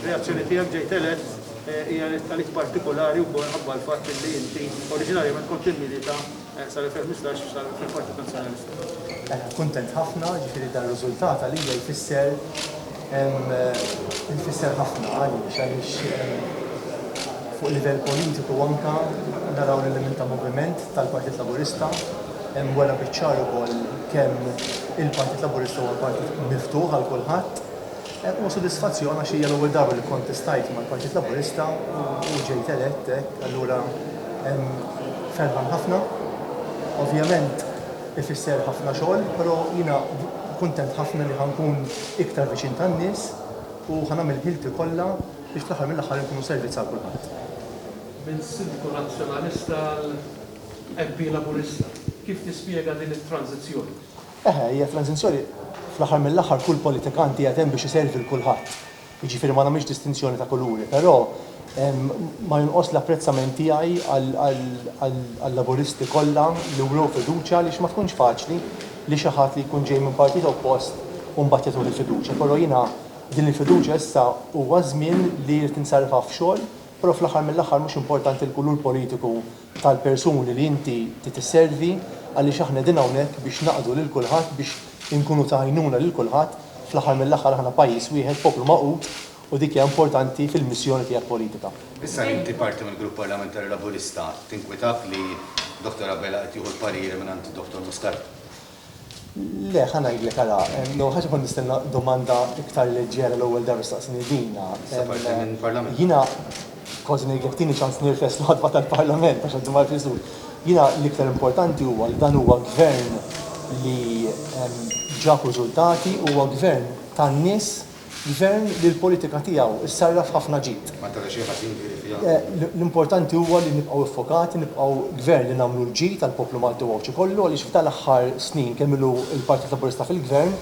Reazzjoni tiegħek ġejt elett eh, hija tal-ik partikolari wkoll ħabba l-fatt li inti oriġinarjament kont immilita eh, sal-2015 sal-Partit Nazzjonalista. Eh, kuntent ħafna, ġifieri dan riżultat għalija jfisser jfisser ħafna għaliex għaliex fuq livell politiku anka naraw l-element ta' moviment tal-Partit Laburista Hemm wera biċ-ċar ukoll kemm il-Partit Laburista huwa partit miftuħ għal kulħadd. Huwa sodisfazzjon għax hija l-ewwel darba li kkontestajt mal-Partit Laburista u ġejt elett hekk, allura ferħan ħafna. Ovvjament ifisser ħafna xogħol, però jiena kuntent ħafna li ħa nkun iktar viċin tan-nies u ħa nagħmel ħilti kollha biex fl-aħħar mill-aħħar inkunu servizz għal kulħadd. Minn Sindku Nazzjonalista għal MP Laburista, kif tispjega din it-tranżizzjoni? Eħe, hija tranżizzjoni, fl-aħħar mill-aħħar kull politikant qiegħed hemm biex iservi 'l kulħadd, jiġifieri ma nagħmilx distinzjoni ta' kuluri, però ma jonqosx l-apprezzament tiegħi għal-Laburisti kollha li wrew fiduċja għaliex ma tkunx faċli li xi ħadd li jkun ġej minn partit oppost u mbagħad jagħtuh il-fiduċja, però jiena din il-fiduċja issa huwa ż-żmien li jrid insarrifha f'xogħol, però fl-aħħar mill-aħħar mhux importanti l-kulur politiku tal-persuni li inti trid isservi għaliex aħna qegħdin hawnhekk biex naqdu lil kulħadd biex inkunu ta' għajnuna lil kulħadd, fl-aħħar mill-aħħar aħna pajjiż wieħed, poplu magħqud u dik hija importanti fil-missjoni tiegħek politika. Issa li inti parti mill-Grupp Parlamentari Laburista, tinkwitak li Dottor Abela qed jieħu l-pariri mingħand Dottor Muscat? Le, ħa ngħidlek, ara, l-ewwel ħaġa kont nistenna domanda iktar leġġera l-ewwel darba staqsini dina. Sa parti minn parlament. Jiena kważi ngħidlek tieni ċans nirfes l-ħadba tal-parlament għax għaddu marf iżur. Jiena l-iktar importanti huwa li dan huwa gvern li ġab riżultati, huwa gvern tan-nies Gvern li l-politika tiegħu ssarraf ħafna ġid. L-importanti huwa li nibqgħu ffokati, nibqgħu Gvern li nagħmlu l-ġid għall-poplu Malti u Għawdxi kollu għaliex f'dan l-aħħar snin kemm ilu l-Partit Laburista fil-Gvern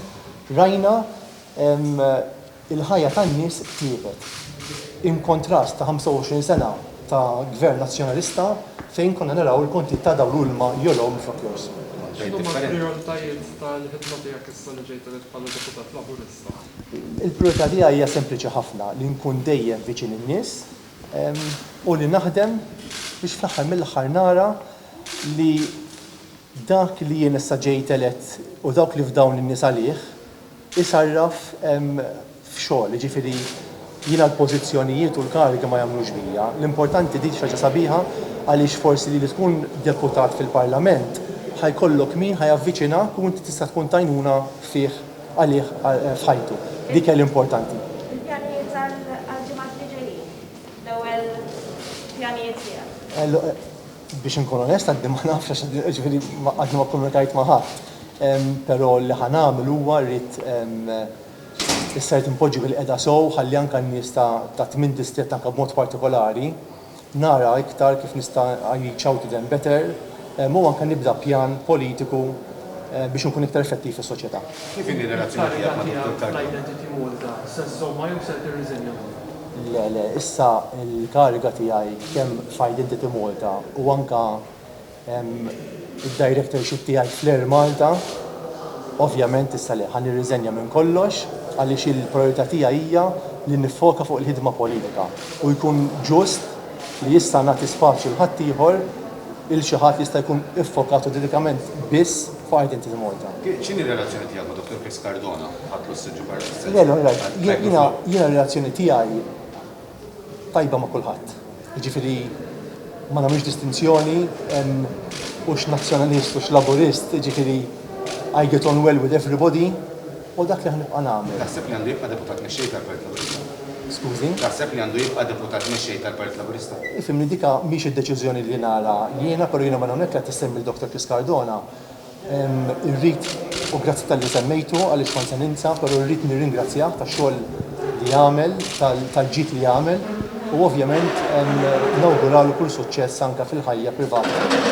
rajna l-ħajja tan-nies tjiebet. In kontrast ta' 25 sena ta' Gvern Nazzjonalista fejn konna naraw il-kontijiet ta' dawl u ilma jogħlow minflok jorqsu. X'inhuma l-prijoritajiet tal-ħidma tiegħek issa li ġejt elett bħala Deputat Laburista? Il-prijorità tiegħi hija sempliċi ħafna, li nkun dejjem viċin in-nies u li naħdem biex fl-aħħar mill-aħħar nara li dak li jien issa ġejt elett u dawk li fdawn in-nies għalih isarraf f'xogħol, jiġifieri jiena l-pożizzjonijiet u l-karigi ma jagħmlux bija. L-importanti din xi ħaġa sabiħa għaliex forsi li tkun deputat fil-Parlament ħa jkollok min ħa javviċinak u inti tista' tkun t'għajnuna fih għalih f'ħajtu. Dik hija l-importanti. Il-pjanijiet għall-ġimgħat li ġejjin? L-ewwel pjanijiet tiegħek? Biex inkun onest, għadni ma nafx għax ġifieri għadni ma kkomunikajt ma' ħadd. Però li ħa nagħmel huwa rrid issa rrid inpoġġi bil-qiegħda sew ħalli anke n-nies ta' tmien distrett anke b'mod partikolari, nara iktar kif nista' I reach out to them better u anke nibda pjan politiku biex inkun iktar effettiv fis-soċjetà. Kif inhi r-relazzjoni tiegħek ma' Dottor Carmona? Le, le, issa l-kariga tiegħi kemm f'Identity Malta u anke id-directorship tiegħi fl-Air Malta, ovvjament issa le, ħa nirriżenja minn kollox għaliex il-prijorità tiegħi hija li niffoka fuq il-ħidma politika u jkun ġust li issa nagħti spazju 'l ħaddieħor 'il xi ħadd li jista' jkun iffokat u dedikament biss fuq Identity Malta. X'inhi r-relazzjoni tiegħek ma' Dottor Chris Cardona, Ħadd Lussu Ġugarra Sessèġu, Għajt Miflugħ? Jiena r-relazzjoni tiegħi, tajba ma' kulħadd. Jiġifieri ma nagħmlux distinzjoni u x'Nazzjonalist u x'Laburist, jiġifieri I get on well with everybody u dak li ħa nibqa' nagħmel. Taħseb li għandu jibqa' Deputat Mexxej tal-Partit Laburista? Skużni? Taħseb li għandu jibqa' Deputat Mexxej tal-Partit Laburista? Ifhimni, dik mhix id-deċiżjoni li nagħla jiena, però jiena minn hawnhekk li qed issemmi l-Dottor Chris Cardona, Irrid, u grazzi talli semmejtu għaliex kont se ninsa, però rrid nirringrazzjah tax-xogħol li għamel, tal-ġid li għamel u ovvjament nawguralu kull suċċess anke fil-ħajja privata.